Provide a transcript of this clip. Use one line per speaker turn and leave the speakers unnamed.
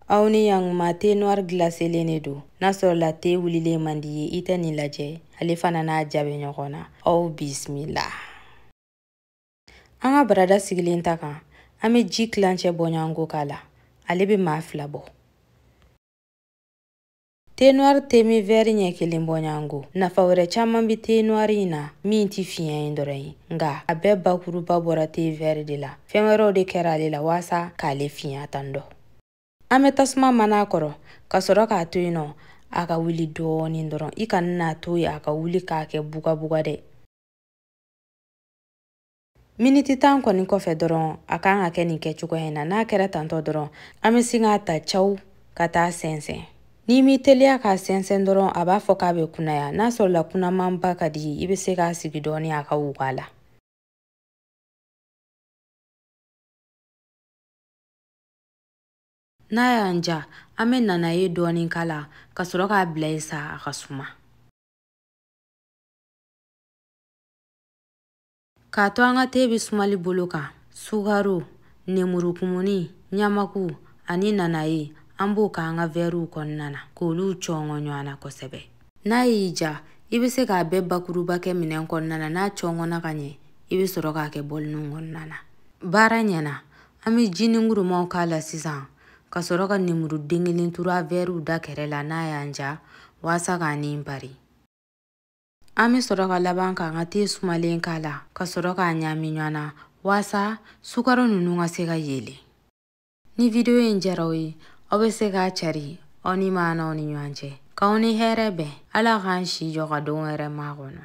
aw ni yankuma te noir glaselen de don n'a sɔrɔla te wulilen man di i ye i tɛ nin lajɛ ale fana n'a ja bɛ ɲɔgɔn na aw bisimila an ka barada sigilen ta kan an bɛ ji kilancɛ bɔɲɔgɔnko k'a la ale bɛ maa fila bɔ Te noir te min vɛri ɲɛ kelen bɔɲɔgɔnko nafa wɛrɛ caaman be te noir in na min tɛ finya in dɔrɔn ye nga a bɛɛ bakuruba bɔra te vɛri de la fɛn wɛrɛw de kɛra ale la waasa k'ale finya tan dɔ an bɛ tasuma mana a kɔrɔ ka sɔrɔ k'a to yen nɔ a ka wuli dɔɔnin dɔrɔn i kana n'a to ye a ka wuli k'a kɛ bugabuga dɛ miniti tan kɔni kɔfɛ dɔrɔn a kan ka kɛ nin kɛcogoya in na n'a kɛra tantɔ dɔrɔn an bɛ sin k'a ta caw ka taa a sɛnsɛn n'i m'i teliya k'a sɛnsɛn dɔrɔn a b'a fɔ k'a bɛ kunaya n'a sɔrɔla kunamanba ka di i bɛ se k'a sigi dɔɔni a ka wuga la n'a y'an ja an bɛ nanaye dɔɔni k'a la ka sɔrɔ k'a bila yen sa a ka suma k'a to an ka te bɛ sumali bolo kan sukaro nemurukumuni ɲamaku ani nanaye an b'o k'an ka vɛriw kɔnɔna na k'olu cɔngɔ ɲɔgɔn na kosɛbɛ n'a y'i ja i bɛ se k'a bɛɛ bakuruba kɛ minɛn kɔnɔna na n'a cɔngɔna ka ɲɛ i bɛ sɔrɔ k'a kɛ bɔlinin kɔnɔna na baara ɲɛna an bɛ jiningurumaw k'a la sisan ka sɔrɔ ka nemuru den kelen turu a vɛriw da kɛrɛ la n'a y'an ja waasa k'a ni pari An bɛ sɔrɔ ka laban k'an ka te sumalen k'a la ka sɔrɔ k'a ɲaami ɲɔgɔn na waasa sukaro ninnu ka se ka yeelen. Ni video in diyara aw ye, aw bɛ se k'a cari aw ni maanaw ni ɲɔgɔn cɛ. K'aw ni hɛrɛ bɛn, Ala k'an si jɔ ka don wɛrɛ makɔnɔ.